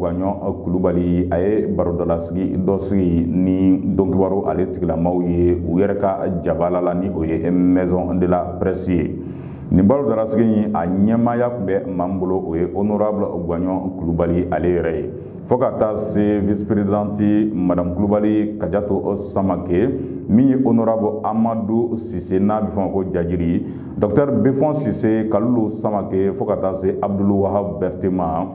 Gagnon Kulubali a ye barodalasigi dɔ sigi ni donkibaru ale tigilamaw ye u yɛrɛ ka jabala la ni o ye maison de la presse ye nin barodalasigi in a ɲɛmaaya tun bɛ maa min bolo o ye honorable Gagnon Kulubali ale yɛrɛ ye fo ka taa se vice présidente madame Kulubali Kajatu Samake min ye honorable Amadu Sise n'a bɛ fɔ ma ko Jajiri docteur Befɔn Sise Kalilu Samake fo ka taa se Abdul Wahab Bɛrite ma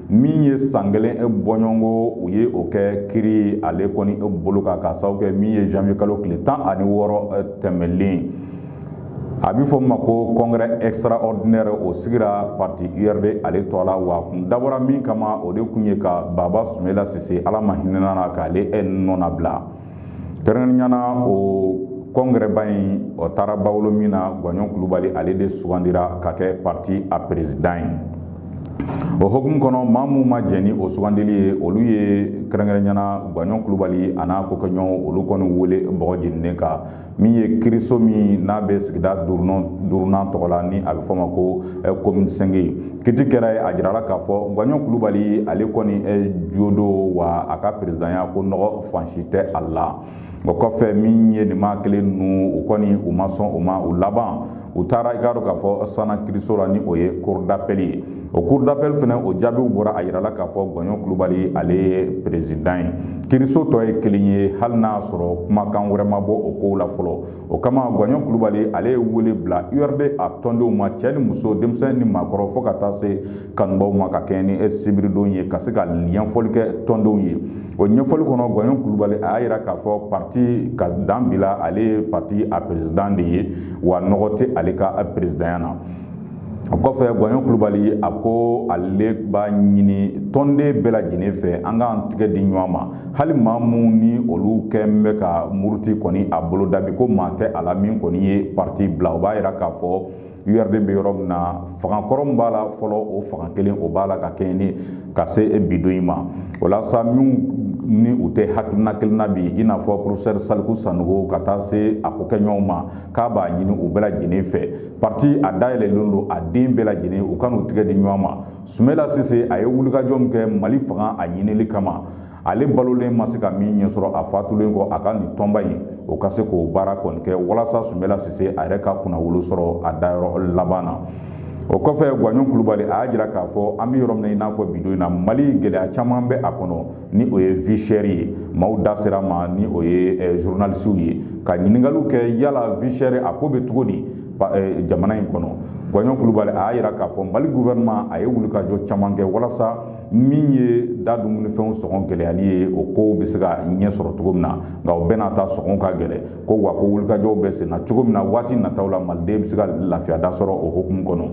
min ye san kelen e fɔɲɔgɔnkɔ u ye o kɛ kiri ale kɔni e bolo kan k'a sababu kɛ min ye janvier kalo tile tan ani wɔɔrɔ e, tɛmɛlen a bɛ fɔ min ma ko congrès extraordinaire o sigira parti URD ale tɔgɔ la wa kun dabɔra min kama o de kun ye ka Baba Sumela Sise Ala ma hinɛna na k'ale e nɔnabila Kɛrɛnkɛrɛnnenya la o congrès ba in o taara ba wolo min na gwaɲɔn kulubali ale de sugandira ka kɛ pati a peresidan ye o hukumu kɔnɔ maa minnu ma jɛn ni o sugandili ye olu ye kɛrɛnkɛrɛnnenya la gwaɲɔn kulubali a n'a kokɛɲɔgɔnw olu kɔni wele bɔgɔ jeninen kan min ye kiriso min n'a bɛ sigida duurunan tɔgɔ la ni a bɛ fɔ ma ko komini sɛnki kiti kɛra yen a jirala k'a fɔ gwaɲɔn kulubali ale kɔni jo don wa a ka peresidanya ko nɔgɔ fansi tɛ a la o kɔfɛ min ye nin maa kelen ninnu u kɔni u ma sɔn u ma u laban u taara i k'a dɔn k'a fɔ sanna kiriso la ni o ye cour d'appel ye O cour d'appel fana o jaabiw bɔra a jirala k'a fɔ gwaɲɔn kulubali ale ye peresidan ye kiriso tɔ ye kelen ye hali n'a sɔrɔ kumakan wɛrɛ ma bɔ o kow la fɔlɔ o kama gwaɲɔn kulubali ale ye wele bila URD a tɔndenw ma cɛ ni muso denmisɛn ni maakɔrɔ fo ka taa se kanubaw ma ka kɛɲɛ ni sibiridon ye ka se ka ɲɛfɔli kɛ tɔndenw ye o ɲɛfɔli kɔnɔ gwaɲɔn kulubali a y'a jira k'a fɔ pati ka dan bila ale ye pati a peresidan de ye wa nɔgɔ tɛ ale ka peresidanya na o kɔfɛ gwaɲɔn kulubali a ko ale b'a ɲini tɔnden bɛɛ lajɛlen fɛ an k'an tigɛ di ɲɔgɔn ma hali maa minnu ni olu tun bɛ ka muruti kɔni a bolo dabi ko maa tɛ a la min kɔni ye pati bila o b'a jira k'a fɔ URD bɛ yɔrɔ min na fanga kɔrɔ min b'a la fɔlɔ o fanga kelen o b'a la ka kɛɲɛ ni ka se bi don in ma walasa minnu ni u tɛ hakilina kelen na bi i n'a fɔ porofesɛri saliku sanogo ka taa se a kokɛɲɔgɔnw ma k'a b'a ɲini u bɛɛ lajɛlen fɛ parti a dayɛlɛlen don a den bɛɛ lajɛlen u ka n'u tɛgɛ di ɲɔgɔn ma sumela sise a ye wulikajɔ min kɛ mali fanga a ɲinili kama ale balolen ma se ka min ɲɛ sɔrɔ a fatulen kɔ a ka nin tɔnba in o ka se k'o baara kɔni kɛ walasa sumela sise a yɛrɛ ka kunnawolo sɔrɔ a dayɔrɔ laban na o kɔfɛ gwaɲɔn kulubali a y'a jira k'a fɔ an bɛ yɔrɔ min na i n'a fɔ bi don in na mali gɛlɛya caman bɛ a kɔnɔ ni o ye vie chère ye maaw da sera ma ni o ye eh, zurunalisiw ye ka ɲininkaliw kɛ yala vie chère a ko bɛ cogo di eh, jamana in kɔnɔ gwaɲɔn kulubali a y'a jira k'a fɔ mali guvɛrɛnɛman a ye wulikajɔ caman kɛ walasa min ye da dumunifɛnw sɔngɔ gɛlɛyali ye o kow bɛ se ka ɲɛ sɔrɔ cogo min na nka o bɛɛ n'a ta sɔngɔw ka gɛlɛ ko wa ko wulikajɔw bɛ senna cogo min na waati nataw la maliden bɛ se ka lafiya da sɔrɔ o hukumu kɔnɔ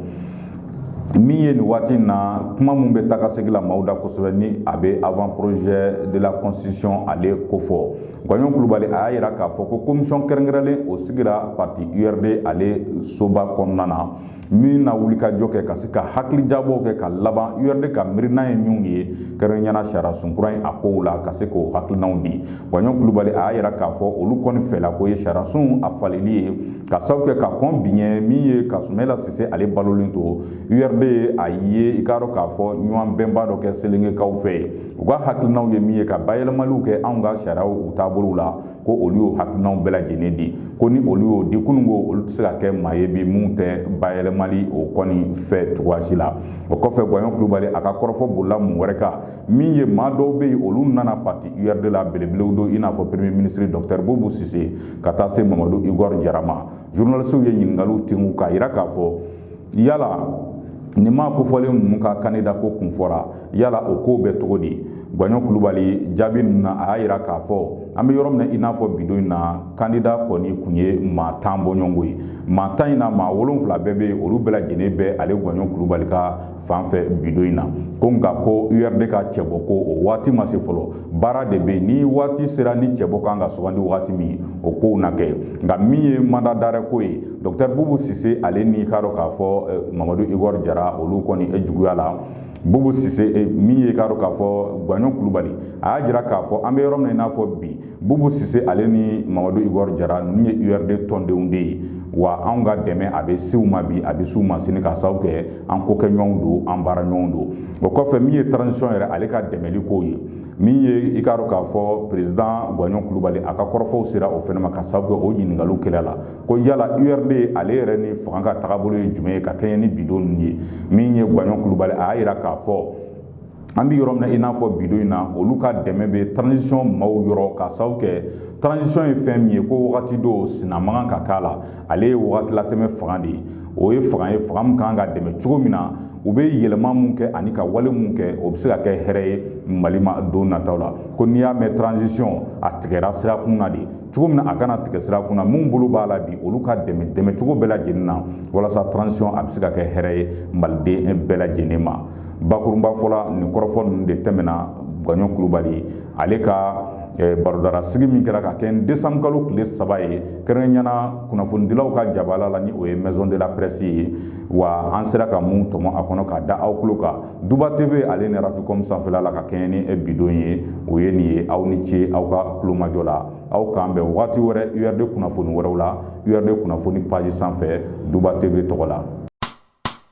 min ye nin waati in na kuma min bɛ takasegin la maaw da kosɛbɛ ni a bɛ avant projet de la constitution ale kofɔ gwaɲɔn kulubali a y'a yira k'a fɔ ko komisiyɔn kɛrɛnkɛrɛnlen o sigira parti urd ale soba kɔnɔna na min na wulikajɔ kɛ ka se ka hakilijabɔw kɛ ka laban urd ka miirina ye minw ye kɛrɛnkɛrɛnya na sariyasun kura in a kow la ka se k'o hakilinaw di Gwaɲɔn kulubali a y'a jira k'a fɔ olu kɔni fɛla ko ye sariyasun a falenni ye ka sababu kɛ ka kɔn bi ɲɛ min ye ka Sumɛla Sise ale balolen to URD a ye i k'a dɔn k'a fɔ ɲɔgɔnbɛnba dɔ kɛ Selengekaw fɛ u ka hakilinaw ye min ye ka bayɛlɛmaliw kɛ anw ka sariyaw u taabolow la ko olu y'o hakilinaw bɛɛ lajɛlen di ko ni olu y'o di kunun ko olu tɛ se ka kɛ maa ye bi min tɛ bayɛlɛmali o kɔni fɛ cogoya si la o kɔfɛ Gwaɲɔn kulubali a ka kɔrɔfɔ bolila mun wɛrɛ kan min ye maa dɔw bɛ yen olu nana pati urd la belebelew don i n'a fɔ premier minisiri dɔkutɛri bubu sise ka taa se mamadu igor jara ma zurunalisiw ye ɲininkali tengu k'a jira k'a fɔ yala nin maa kofɔlen ninnu ka kandida ko kun fɔra yala o ko bɛ cogo di gwaɲɔn kulubali jaabi ninnu na a y'a jira k'a fɔ an bɛ yɔrɔ min i n'a fɔ bidon in na kandida kɔni kun ye maa tan bɔɲɔgɔnko ye maa tan in na maa wolonwula bɛɛ bɛ olu bɛɛ lajɛlen bɛ ale gwaɲɔn kulubali ka fan fɛ bidon in na ko nka ko urd ka cɛbɔ ko o waati ma se fɔlɔ baara de bɛ ni waati sera ni cɛbɔ kan ka sugandi waati min o kow na kɛ nka min ye mandat d'arrêt ko ye dɔktɛr bubu sise ale n'i k'a dɔn k'a fɔ eh, mamadu igor jara olu kɔni juguya la bubu sise eh, min ye k'a dɔn k'a fɔ gwaɲɔn kulubali a y'a jira k'a fɔ an bɛ yɔrɔ min n'a fɔ bi bubu sise ale ni mamadu igor jara ninnu ye urd tɔndenw de ye wa anw ka dɛmɛ a bɛ s'u ma bi a bɛ s'u ma sini ka sababu kɛ an kokɛɲɔgɔnw don an baaraɲɔgɔnw don o kɔfɛ min ye transition yɛrɛ ale ka dɛmɛli kow ye min ye i k'a dɔn k'a fɔ président guwaɲɔn kulubali a ka kɔrɔfɔw sera o fɛnɛ ma ka sababu kɛ o ɲiningaliw kɛl'a la ko yala urd ale yɛrɛ ni fanga ka tagabolo ye jumɛn ye ka kɛɲɛ ni bidon ninnu ye min ye guwaɲɔn kulubali a y'a yira k'a fɔ an bɛ yɔrɔ min na i n'a fɔ bidon in na olu ka dɛmɛ bɛ transition maaw yɔrɔ ka sababu kɛ transition ye fɛn min ye ko wagati dɔw sina man kan ka k'a la ale ye wagati latɛmɛ fanga de ye o ye fanga ye fanga min kan ka dɛmɛ cogo min na u bɛ yɛlɛma min kɛ ani ka wale min kɛ o bɛ se ka kɛ hɛrɛ ye mali ma don nataw la ko n'i y'a mɛn transition a tigɛra sira kun na de cogo min na a kana tigɛ sira kun na minnu bolo b'a la bi olu ka dɛmɛ dɛmɛ cogo bɛɛ lajɛlen na walasa transition a bɛ se ka kɛ hɛrɛ ye maliden bɛɛ lajɛlen ma bakurunba fɔla nin kɔrɔfɔ ninnu de tɛmɛna Gwaɲɔn Kulubali ale ka eh, barodara sigi min kɛra ka kɛɲɛ ni desanburu kalo tile saba ye kɛrɛnkɛrɛnyana kunnafonidilaw ka jabala la ni o ye maison de la presse ye wa an sera ka mun tɔmɔ a kɔnɔ ka da aw tulo kan duba tv ale ni raficom sanfɛla la ka kɛɲɛ ni eh, bi don ye o ye nin ye aw ni ce aw ka kulomajɔ la aw k'an bɛn wagati wɛrɛ urd kunnafoni wɛrɛw la urd kunnafoni page sanfɛ duba tv tɔgɔ la